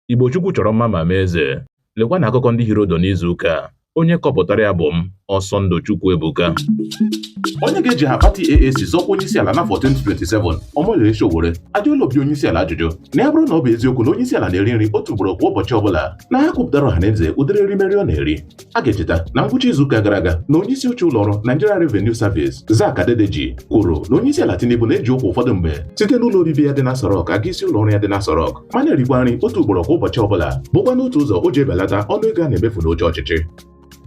Igbo Chukwu chọrọ mma ma mee eze. Lekwa na akụkọ ndị hiri odo n'izu ụka a. Onye kọpụtara ya bụ m, Ọsọndụ Chukwu Ebuka. Onye ga-eji aha pati AAC zọọ ọkwa onyeisiala n'afọ 2027, Omoyele Sowore, ajụọla obi onyeisiala ajụjụ na ya bụrụ na ọ bụ eziokwu na onyeisiala na-eri nri otu ugboro kwa ụbọchị ọbụla na ya kwupụtara ọhaneze ụdịrị erimeri ọ na-eri. a ga-echeta na ngwụcha izuụka gara aga na onyeisi oche ụlọọrụ Nigeria Revenue Service Zacch Adedeji kwuru na onyeisi ala Tinubu na-eji ụkwụ ụfọdụ mgbe site n'ụlọ obibi ya dị n'Aso Rock aga isi ụlọọrụ ya dị n'Aso Rock ma na-erikwa nri otu ugboro kwa ụbọchị ọbụla bụkwanụ otu ụzọ o ji ebelata ọnụ ego a na-emefu n'oche ọchịchị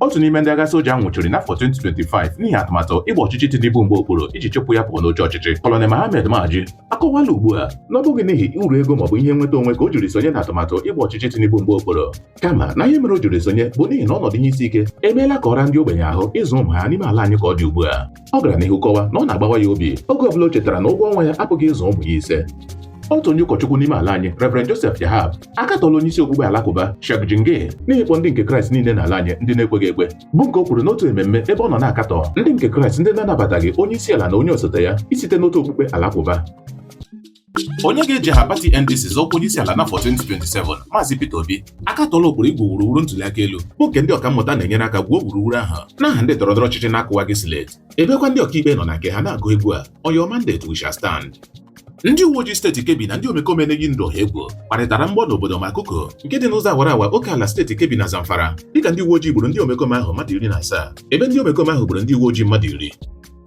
otu n'ime ndị agha soja a nwụchiri n'afọ 2025 n'ihi atụmatụ ịgba ọchịchị Tinubu mgba okpuru iji chụpụ ya pụọ n'oche ọchịchị Colonel Mohammed Ma'aji akọwala ugbu a na ọ bụghị n'ihi uru ego maọbụ ihe nweta onwe ka o jiri sonye n'atụmatụ ịgba ọchịchị Tinubu mgba okpuru kama na ihe mere o jiri sonye bụ n'ihi na ọnọdụ ihe isi ike emeela ka ọ raa ndị ogbenye ahụ ịzụ ụmụ ha n'ime ala anyị ka ọ dị ugbu a ọ gara n'ihu kọwa na ọ na-agbawa ya obi oge ọbụla o chetara na ụgwọ ọnwa ya apụghị ịzụ ụmụ ya ise otu onye ụkọchukwu n'ime ala anyị Reverend Joseph Yahab akatọla onye isi okpukpe alakụba Sheikh Jingir n'ihi ịkpọ ndị nke Kraịst niile n'ala anyị ndị na-ekweghị ekwe bụ nke o kwuru n'otu ememme ebe ọ nọ na-akatọ ndị nke Kraịst ndị na-anabataghị onye isi ala na onye osote ya isite n'otu okpukpe alakụba onye ga-eji aha pati NDC zọọ ọkwa onyeisiala n'afọ 2027 Maazị Peter Obi akatọọla ụkpụrụ igwu wuruwuru ntuliaka elu bụ nke ndị ọkammụta na-enyere aka gwuo wuruwuru ahụ n'aha ndị ndọrọndọrọ ọchịchị na-akụwaghị slate ebekwa ndị ọkaikpe nọ na nke ha na-agụ egwu a on your mandate we shall stand ndị uwe ojii steeti Kebbi na ndị omekome na-eyi ndụ ọha egwu gbarịtara mgbọ n'obodo Makuku nke dị n'ụzọ awara awa oke ala steeti Kebbi na Zamfara dịka ndị uwe ojii gburu ndị omekome ahụ mmadụ iri na asaa ebe ndị omekome ahụ gburu ndị uwe ojii mmadụ iri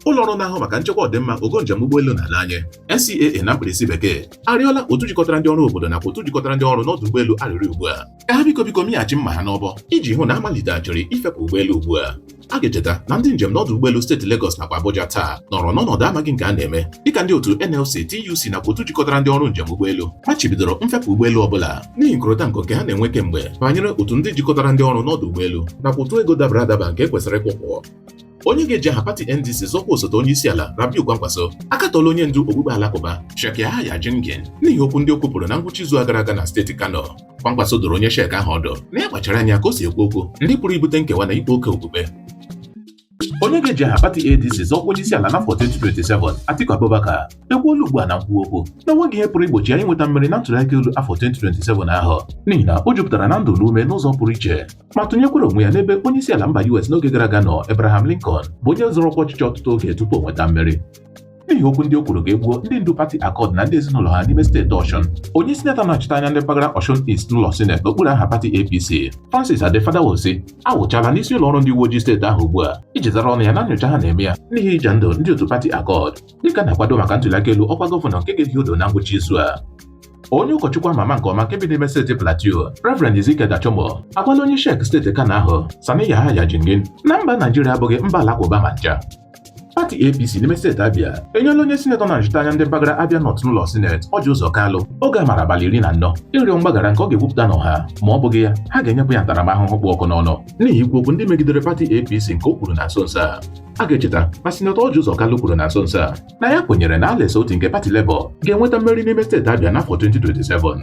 ụlọ ọrụ na-ahụ maka nchekwa ọdịmma ogo njem ụgbọelu na ala anyị NCAA na mkpirisi bekee arịọla otu jikọtara ndị ọrụ obodo nakwa otu jikọtara ndị ọrụ n'ọdụ ụgbọelu arịrị ugbu a ka ha biko biko mịghachi mma ha n'ọbọ iji hụ na a maliteghachiri ifepụ ụgbọelu ugbu a a ga-echeta na ndị njem n'ọdụ ụgbọelu steeti Lagos nakwa Abuja taa nọrọ n'ọnọdụ amaghị nke a na-eme dịka ndị otu NLC TUC nakwa otu jikọtara ndị ọrụ njem ụgbọelu machibidoro mfepụ ụgbọelu ọbụla n'ihi nkorota nko nke ha na-enwe kemgbe banyere otu ndị jikọtara ndị ọrụ n'ọdụ ụgbọelu nakwa ụtụ ego dabara adaba nke e kwesịrị ịkwụ ụgwọ onye ga-eji aha pati NDC zọọ ọkwa osote onye isi ala Rabiu Kwankwaso akatọla onye ndu okpukpe alakụba Sheikh Yahaya Jingir n'ihi okwu ndị o kwupụrụ na ngwụcha izu a gara aga na steeti Kano Kwankwaso doro onye Sheikh ahụ ọdụ na ya kpachara anya ka o si ekwu okwu ndị pụrụ ibute nkewa na ịkpa oke okpukpe onye ga-eji aha pati ADC zọọ ọkwa onye isi ala n'afọ 2027 Atiku Abubakar ekwuola ugbu a na nkwuwa okwu na o nweghị ihe pụrụ igbochi ya inweta mmeri na ntụliaka elu afọ 2027 ahụ n'ihi na o jupụtara na ndụ na ume n'ụzọ pụrụ iche ma tụnyekwara onwe ya n'ebe onye isi ala mba US n'oge gara aga nọ Abraham Lincoln bụ onye zọrọ ọkwa ọchịchị ọtụtụ oge tupu o nweta mmeri n'ihi okwu ndị o kwuru ka e gbuo ndị ndu pati Accord na ndị ezinụlọ ha n'ime steeti Ọshụn onye sinetọ na-anọchita anya ndị mpaghara Ọshụn East n'ụlọ sineti n'okpuru aha pati APC Francis Ade Fadahunsi awụchala n'isi ụlọ ọrụ ndị uwe ojii steeti ahụ ugbu a iji zara ọnụ ya na nyocha ha na-eme ya n'ihi ija ndụ ndị otu pati Accord dịka a na-akwado maka ntụliaka elu ọkwa gọvanọ nke ga-ehi odo na ngwụcha izu a onye ụkọchukwu ama ama nke ọma nke bi n'ime steeti Plateau Reverend Ezekiel Dachomo agwala onye Sheikh steeti Kano ahụ Sani Yahaya Jingir na mba Naijiria abụghị mba alakụba ma ncha pati APC n'ime steeti Abia enyela onye sinetọ na-anọchite anya ndị mpaghara Abia North n'ụlọ sineti Orji Uzor Kalu oge amara abalị iri na anọ ịrịọ mgbaghara nke ọ ga-ekwupụta n'ọha ma ọ bụghị ya ha ga-enyepụ ya ntaramahụhụ kpụ ọkụ n'ọnụ n'ihi ikwu okwu ndị megidere pati APC nke o kwuru na nso nso a a ga-echeta na sinetọ Orji Uzor Kalu kwuru na nso nso a na ya kwenyere na Alex Otti nke pati Labour ga-enweta mmeri n'ime steeti Abia n'afọ 2027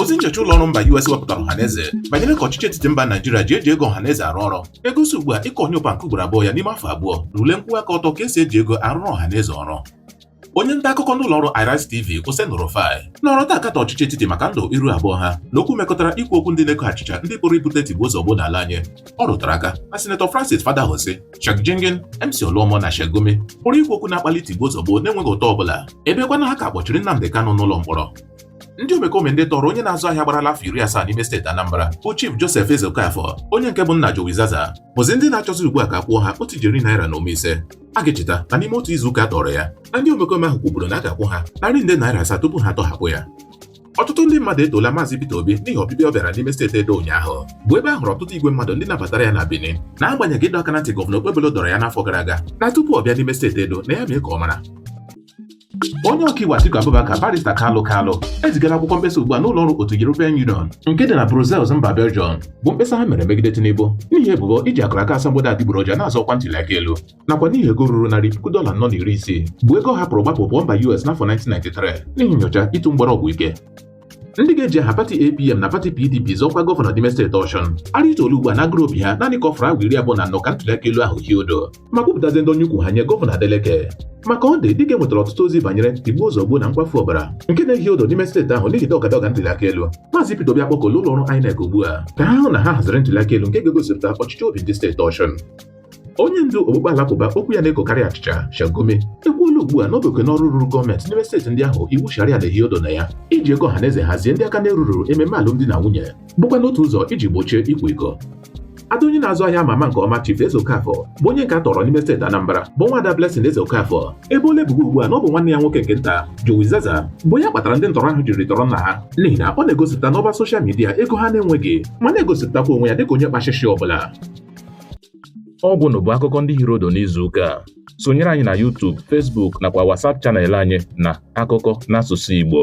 ozi nchọcha ụlọ ọrụ mba US wepụtara ọhaneze banyere ka ọchịchị etiti mba Naijiria ji eji ego ọhaneze arụ ọrụ egosi ugbu a ịkọ onye ụpa nke ugboro abụọ ya n'ime afọ abụọ na ule nkwụwa aka ọtọ ka esi eji ego arụrụ ọhaneze ọrụ onye nta akụkọ n'ụlọ ọrụ Arise TV Oseni Rufai nọrọ taa akatọ ọchịchị etiti maka ndụ iru abụọ ha na okwu mekọtara ikwu okwu ndị na-eko achịcha ndị pụrụ ibute tigbuo zọgbuo n'ala anyị ọ rụtara aka na sinetọ Francis Fadahunsi, Sheikh Jingir, MC Oluomo na Sheikh Gumi pụrụ ikwu okwu na-akpali tigbuo zọgbuo n'enweghị ụta ọbụla ebekwanụ ha ka kpọchiri Nnamdi Kanu n'ụlọ mkpọrọ ndị omekome ndị tọrọ onye na-azụ ahịa gbarala afọ iri asaa n'ime steeti Anambra bụ Chief Joseph Ezeokafor onye nke bụ nna Jowi Zaza bụzi ndị na-achọzi ugbu a ka a kwụọ ha otu ijeri naira na ụma ise a ga-echeta na n'ime otu izuụka a tọrọ ya na ndị omekome ahụ kwuburu na a ga-akwụ ha narị nde naira asaa tupu ha atọhapụ ya ọtụtụ ndị mmadụ etoola maazị Peter Obi n'ihi ọbịbịa ọ bịara n'ime steeti Edo ụnyaahụ bụ ebe a hụrụ ọtụtụ igwe mmadụ ndị nabatara ya na Benin n'agbanyeghị ịdọ aka na ntị gọvanọ Okpebholo dọrọ ya n'afọ gara aga na tupu ọ bịa n'ime steeti Edo na ya mee ka ọ mara onye ọkaiwu Atiku Abubakar barista Kalu Kalu ezigala akwụkwọ mkpesa ugbu a n'ụlọ ọrụ otu European Union nke dị na Brussels mba Belgium bụ mkpesa ha mere megide Tinubu n'ihi ebubo iji akụrụ aka asambodo adịgboroja na-azọ ọkwa ntuli aka elu nakwa n'ihi ego ruru narị puku dọla anọ na iri isii bụ ego ọ hapụrụ gbapụ pụọ mba US n'afọ 1993 n'ihi nyocha ịtụ mgbere ọgwụ ike ndị ga-eji aha pati APM na pati PDP zọọ ọkwa gọvanọ n'ime steeti Osun arịtuola ugbu a n'agụrụ obi ha naanị ka ọ fọrọ awa iri abụọ na anọ ka ntuli aka elu ahụ hie odo ma kwupụtazi ndọnye ụkwụ ha nye gọvanọ Adeleke na Accord dịka enwetara ọtụtụ ozi banyere tigbuo zọgbuo na nkwafu ọbara nke na-ehi odo n'ime steeti ahụ n'ihi dọga dọga ntuli aka elu maazị Peter Obi akpọkuola ụlọ ọrụ INEC ugbu a ka ha hụ na ha haziri ntuli aka elu nke ga-egosipụta ọchịchọ obi ndị steeti Osun onye ndu okpukpe alakụba okwu ya na-ekokarị achịcha Sheikh Gumi ekwuola ugbu a n'oke n'ọrụ ruru gọọmenti n'ime steeti ndị ahụ iwu sharia na-ehi odo na ya iji ego ọha na eze hazie ndị aka na-eruru ememe alụmdi na nwunye bụkwanụ otu ụzọ iji gbochie ịkwa iko ada onye na-azụ ahịa ama ama nke ọma Chief Ezeokafor bụ onye nke a tọrọ n'ime steeti Anambra bụ nwa ada Blessing Ezeokafor eboola ebubo ugbu a na ọ bụ nwanne ya nwoke nke nta Jowi Zaza bụ ya kpatara ndị ntọrọ ahụ jiri tọrọ nna ha n'ihi na ọ na-egosipụta n'ọba soshal midia ego ha na-enweghị ma na-egosipụtakwa onwe ya dịka onye kpachịchị ọbụla Ọ gwụnụ bụ akụkọ ndị hiri odo n'izu ụka a. Sonyere anyị na YouTube, Facebook nakwa WhatsApp chanel anyị na akụkọ n'asụsụ Igbo.